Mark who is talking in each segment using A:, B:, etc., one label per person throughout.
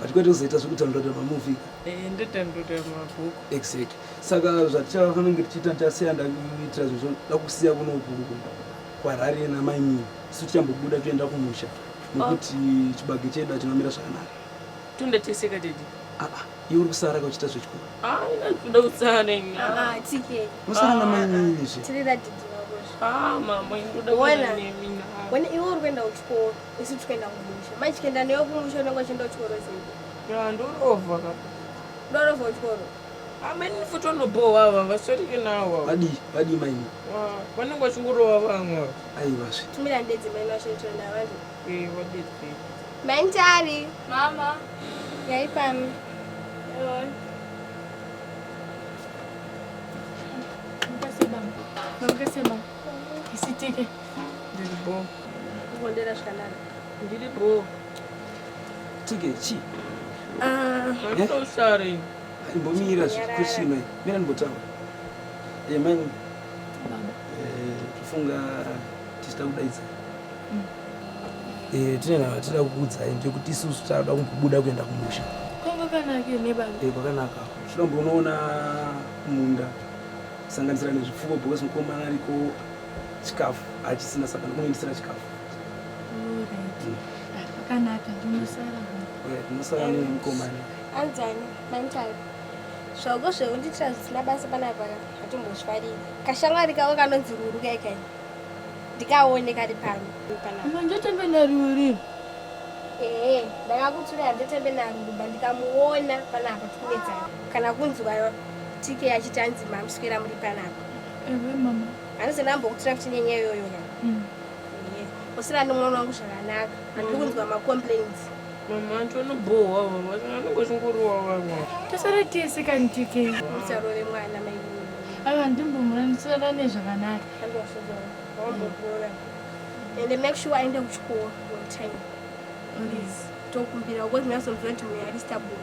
A: but kwete kuzoita zvekudownloada mamovie eh, ndodownloada
B: mabhuku exact saka
A: zvatichafanenge tichiita tichasiya ndakuitira zvizvo ndakusiya kunoku kwarari namainini isu tichambobuda toenda kumusha nokuti oh. chibage chedu achinomira zvakanaka tonda teseka
B: dedi aa iwe uri kusara
A: ka uchiita zvechikuru toda
B: kusara
C: nosara namainini
A: zve ah, ah, ah,
B: iwe uri kuenda
C: kuchikoro isu tikaenda kumusha mai tikaenda newe kumusha unenge uchienda kuchikoro sei ya ndorovha ka
B: ndorovha
C: kuchikoro ameni futi
B: vanobohwa ava vasarike nawo vadii vadii maini
A: vanenge
B: vachingorova vamwe aiwa zve tumira
A: ndedzi maini
C: vashaitona vanhu ee vadedzi
B: maini tari
C: mama
D: yaipami
C: Terima kasih
D: bang. Terima kasih bang. Isitike. Ndiri bho.
B: Kukondera
C: zvakanaka. Ndiri bho.
A: Tike chi? Ah, I'm eh? so
B: sorry. Imbomira
A: zvikuchina. Mira ndimbotaura. Eh, mai. Baba. Eh, kufunga tichita kudaidza. Mm. Eh, tine nava tira kukudzai ndekuti isusu tava kubuda kuenda kumusha. Kwanga kanaka
D: ne baba. Eh, kwakanaka. Zvino
A: mbonoona munda. kusanganisira nezvipfuwo because mukomana ariko chikafu achisina saka ndomunoendesera chikafu zvakanaka ndinosara nemukomana anzani
C: mantai zvauko zvekundiitira zvisina basa panapa hatimbozvifariri kashamwari kavo kanonzi ruru kaikai ndikaone kari pano ndotembe
D: naruri ee
C: ndakakutsura ndotembe naruri ba ndikamuona panapa tikunetsana kana kunzwa tk achiti anzi mamuswera muri panapa ewe mama
D: anozona ambokutura
C: kuti nenyaya iyoyo na mm. usina nomwana wangu zvakanaka andiri mm. kunzwa macomplains mama anti
B: vanobohwa vanenge zvingoriwa vavo tosara tese
D: kani tk usarove mwana
C: mai ava
D: ndimbomurandisorana nezvakanaka
C: andozozovambokuona and make sure aende kuchikoro on time please tokumbira uko zvinazomvira kuti mweari stable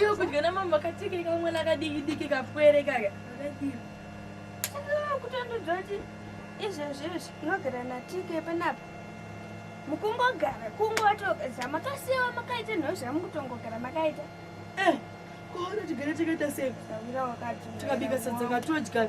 C: iwe kudya
D: namambo akatike kamwana kadiki diki kapwere kaka
C: kutondiudza kuti izvezvi izvi unogara natike panapa mukungogara kungotogeza makasiwa makaita nhau zvamukutongogara makaita eh,
D: koona tigare takaita sei
C: tikabika sadza
D: katodya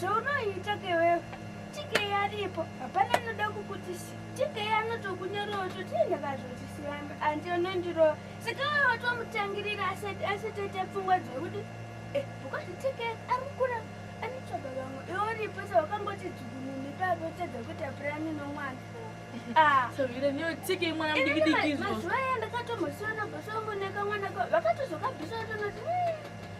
C: zvaunoita kewewe tikei aripo hapana anoda kukutisi tikei anotokunyorova totienda kazvotisiyana andi anondirova saka wewe watomutangirira asati aita pfungwa dzekuti eh, because tikei arikukura anotsvaga vamwe iwe uripo sa wakangoti dzukunini ipapo utadza kuita purani nomwana
D: ah. mazuva aya
C: ndakatomhosiona boso wangu nekamwana vakatozokabvisa tonoti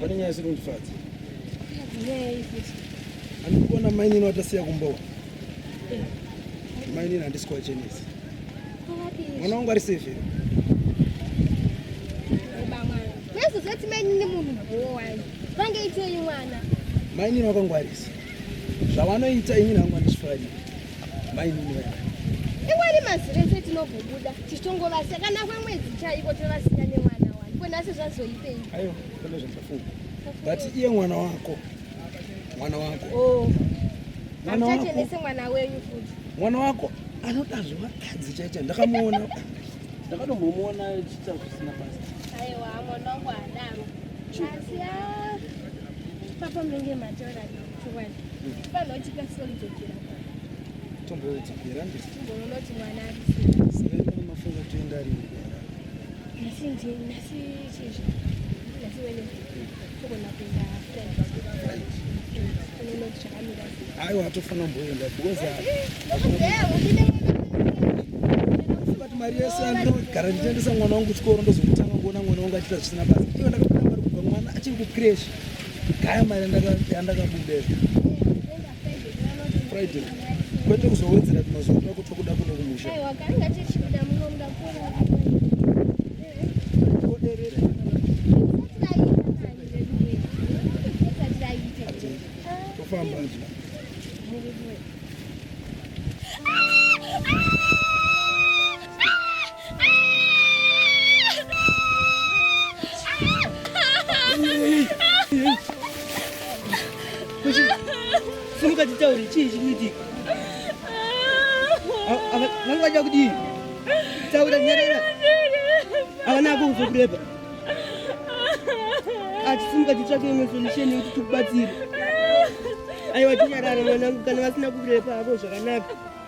A: pane nyaya isiri kundifadza andikuona mainini watasiya kumbowa mainini handisi kuwachenesa mwana wangu ari safe zoti mainini
C: munhu bhowani vange itei mwana mainini
A: wakangwarisa zvavanoita inini hangu andichifarira iwari mazire
C: ese tinogobuda tichitongovasi kana kwemwedzi chaiko tinovasina nemwana wani ko nhasi zvazoipei aiwa kune
A: zvandafunga but iye mwana wako mwana wako oh.
C: mwana wako achenese mwana wenyu futi mwana wako
A: anoda zvevakadzi chaicha ndakamuona ndakatombomuona chiita zvisina basa aiwa mwana wangu
C: adaro asi ah, papa menge mataura ayo hatofana
A: mboenda because but mari yese andinogara ndichiendesa mwana wangu kuchikoro ndozomutanga kuona mwana wangu achiita zvisina basa iyo ndakapinda mari kubva mwana achiri kucresh Gaya mari yandakabuda Friday. Kwete kuzowedzera tumazuva twako twakuda kuno kumusha. Aiwa, kanga tichibuda
C: muno
A: muda kuona.
E: Simuka titaure chii chiri kuitika? Vanga vacha kudii? Taura nyarara. Havana kuuza kureba. Ati simuka titsvake imwe solution yekuti tikubatsire. Aiwa tinyarara mwanangu kana vasina kureba havo zvakanaka.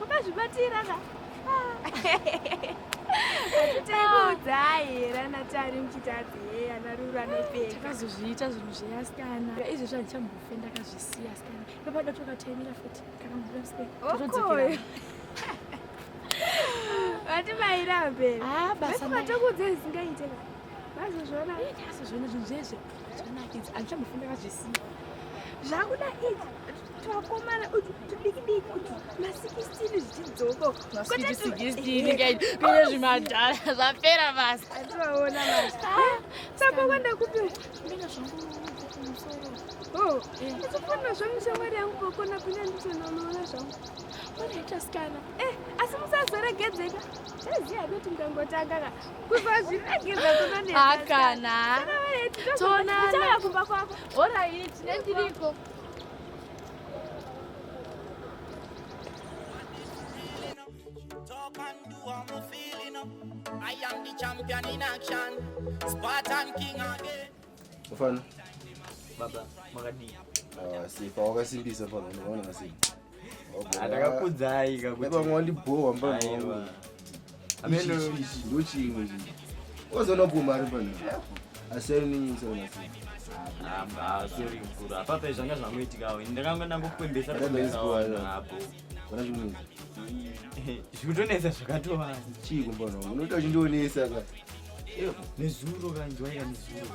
D: Makazvibatira ka?
C: Tekuudzai rana tari muchitadzi heya narura nopeka. Takazozviita zvinhu
D: zveya sikana. Izvi zvandichambofe ndakazvisiya sikana. Ndopada toka taimira futi kana mvura sike. Okoyo.
C: Vati maira mberi. Ah basa. Matokuudza isingaite ka. Vazozviona. Vazozviona zvinhu
D: zvese. Zvinakidza. Andichambofe ndakazvisiya. Zvakuda
C: izvi. Twakomana utu tudikidiki utu masikisitini zvichidzoka masikisitini kaiti
D: pine zvimadhara zvapera basa ativaona basa
C: saka kwanda kupi ndina zvangu
D: kumusoro oh ndikufanira
C: zvangu shamwari yangu kokona kunya ndichinonoona zvangu unoita sikana
D: eh asi
C: musazoregedzeka taziva kuti ndongotanga ka kubva zvinageza kunonehakana toonana kumba kwako oraiti
D: nendiriko
F: Mfano
G: baba
H: makadii? Ah, si
G: pawakasimbisa pano unaona masimba ndakakudzai
H: kakutipamwe wandibhowa
G: mbaa ndochimwe chii ozoona kuma ari pano apape
H: zvanga zvangoitikawo ndakanga ndangokwembesa zvikutonetsa zvakatova chii kumbono unoita
G: uchindionesa
H: ka nezuro
G: kanjwaira
H: nezuro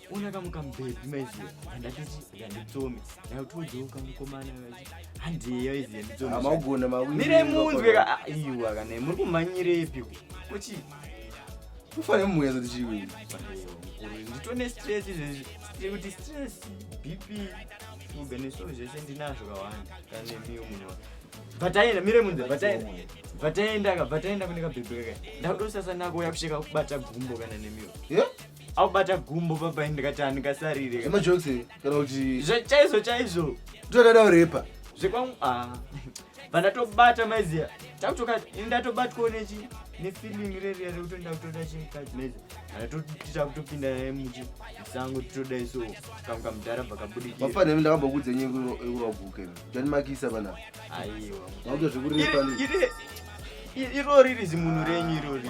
H: ona kamukamubhedhi maiziva andatichi ndanditsomi ndautiudzewo kamukomana vachi handiyeyo iziva nditsomi maugona mawimire
G: munzwe
H: ka ah, iwa kana muri kumhanyirepi kuchi
G: kufanira mumwezo tichiwini
H: nditone stress izvezvi tiri kuti stress bp shuga neso zvese ndinazvo kawanda kane miyo munhu bataenda mire munze bataenda bataenda ka bataenda kune kabhebheka ka ndakutosasa nako uya kusheka kubata gumbo kana nemiyo yeah? aubata gumbo baba ndikati handingasarire zvemajokisi kana
G: kuti chaizvo chaizvo
H: ndodada urepa
G: zvekwangu ah.
H: vandatobata maiziya takutoka ndatobatwawo nechi nefeeling reriya rekuti ndakutoda chimukadzi maizi anatotiita kutopinda naye muchi musango titoda iso kamwe kamudhara bvakabudikira mafana imi ndakambokudza
G: nyaya yekuvaguka imi ndanimakisa vana aiwa
H: vakuta zvekurepa irori rizimunhu renyu irori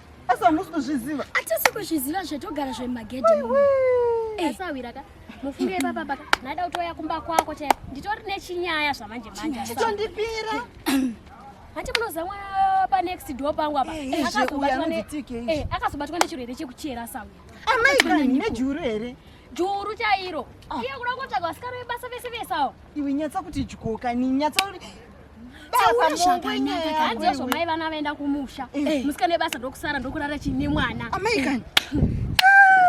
C: asi hamusi
E: kuzviziva atisi kuzviziva
C: zvetogara zvemagedhi eh. asi awira ka mufunge ipapa paka ndaida kutouya kumba kwako chaiko nditori nechinyaya zvamanje manje tondipira hati munozamwa panext door pangu apa eh, eh, eh, akazobatwa nechirwere chekuchera sawi amai kani
E: nejuru here juru chairo
C: ah. iye kuda kutsvaga vasikana vebasa vese vese awo Iwe nyatsa kuti
E: dyoka ni nyatsa kuti
C: hanzizvo mai vana vaenda kumusha eh. eh. musika nebasa ndokusara ndokurara chii nemwana amai kani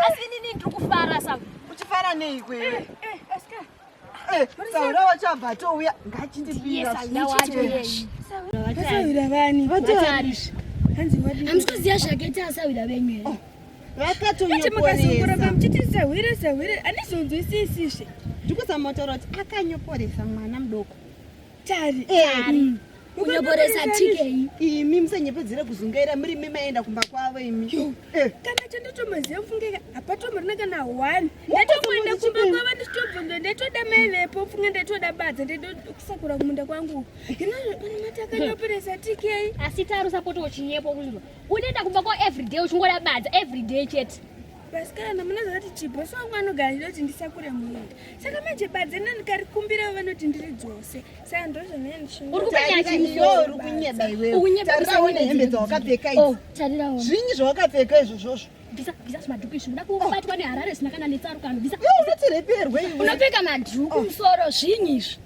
C: asi inini ndiri kufara sa uchifara nei
E: kwewe eh, saura wachabva touya ngachindibirasawira vani hanzi vatari hanzi vatari hanzi
C: kuziya zvakaita asawira venyu here oh. vakatonyoporesa
E: muchiti sehwire sehwire andizonzwisisizve ndikusamotoro kuti akanyoporesa mwana mudoko tari mm.
C: kunyoporesa tikei imi musanyepedzere
E: kuzungaira muri mi maenda kumba kwavo imi eh. kana
D: chandatomaziva mfungeka hapatomorina kana one ndatoenda kumba kwavo ndichitobvunza ndatoda mai vepo mfunge ndatoda badza ndedokusakura kumunda kwangu hino pane mati akanyoporesa tikei asi tarusa poto
C: uchinyepo kunzwa unoenda kumba ko everyday uchingoda badza everyday chete vasikana mune
D: zvakati chibhosi wangu anogara ndinoti ndisakure munda saka manje badze nanikarikumbirawo vanoti ndiri dzose saka
E: ndozvonyachiukunyebaiweotauraaunehembedzawakapfekaizvinyi zvawakapfeka izvo zvozvo
C: unoti reperwe
E: unopfeka madhuku
C: musoro zvinyi izvi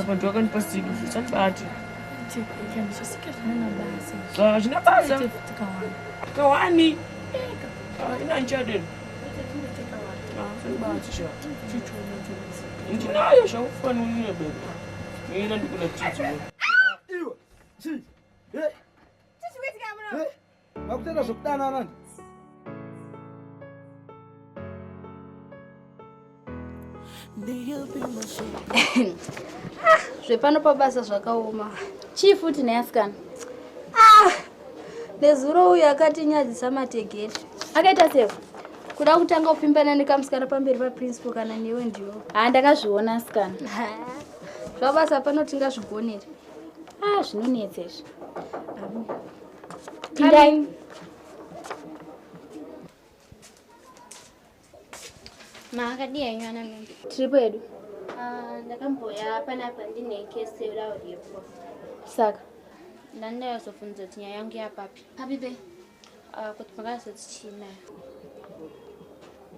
B: apa ndi wakandipa sikufu chandibati
C: hazvina basa
B: kawani ina ndichadero ndinayo zvakufanira bebe ina ndikuna
A: tidziwe Vakutenda
I: zvokudana anani. Ah, zvepano pabasa zvakaoma chii futi neasikana ah, nezuro uyu akatinyadzisa mategeti akaita sefu kuda kutanga kupfimbana nekamusikana pamberi paprincipo kana newe ndiwo haa ndakazviona asikana zvabasa pano tingazvigonere a ah, zvinonetsa izvi Pindain.
C: Ma akadii henyu ana mimba? Tiri pedu.
I: Ah, ndakamboya
C: panapa ndine kesi yodawo yepo. Saka
I: ndandayozofunza
C: kuti nyaya yangu yapapi. Papi be? Ah, kuti makazotichina.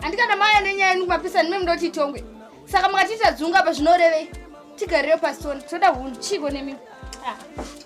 I: handikana maya nenyaya yenu kumapisa nime mudoti itongwe saka makatiita dzunga apa zvinorevei tigarire pasitoni toda hunhu chiiko nemimi ah.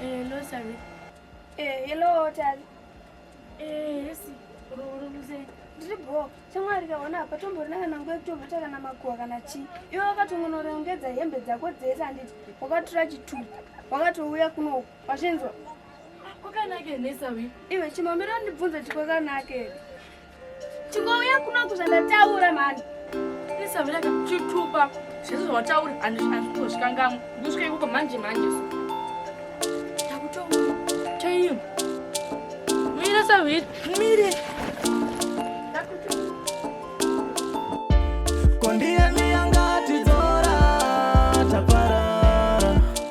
D: Hello, Sami. Eh, hello, Tali. Eh, yes. Ruru mzee. Ndiri bho, shamwari kaona apa tomborina kana nguva yekutobata kana makuwa kana chii. Iwe wakatongonorongedza hembe dzako dzese handiti wakatotora chitupa wakatouya kuno wazvinzwa. Kwakanake nesawi. Iwe chimamira ndibvunza chikwakanake. Chingouya kuno kuzandataura mani. Nesawi raka chitupa. Zvese zvawataura andizvozvikangamwa. Ndosvika ikoko manje manje so. Takutonga. Chaiyo. Mira sawi. Mire.
F: Kondiani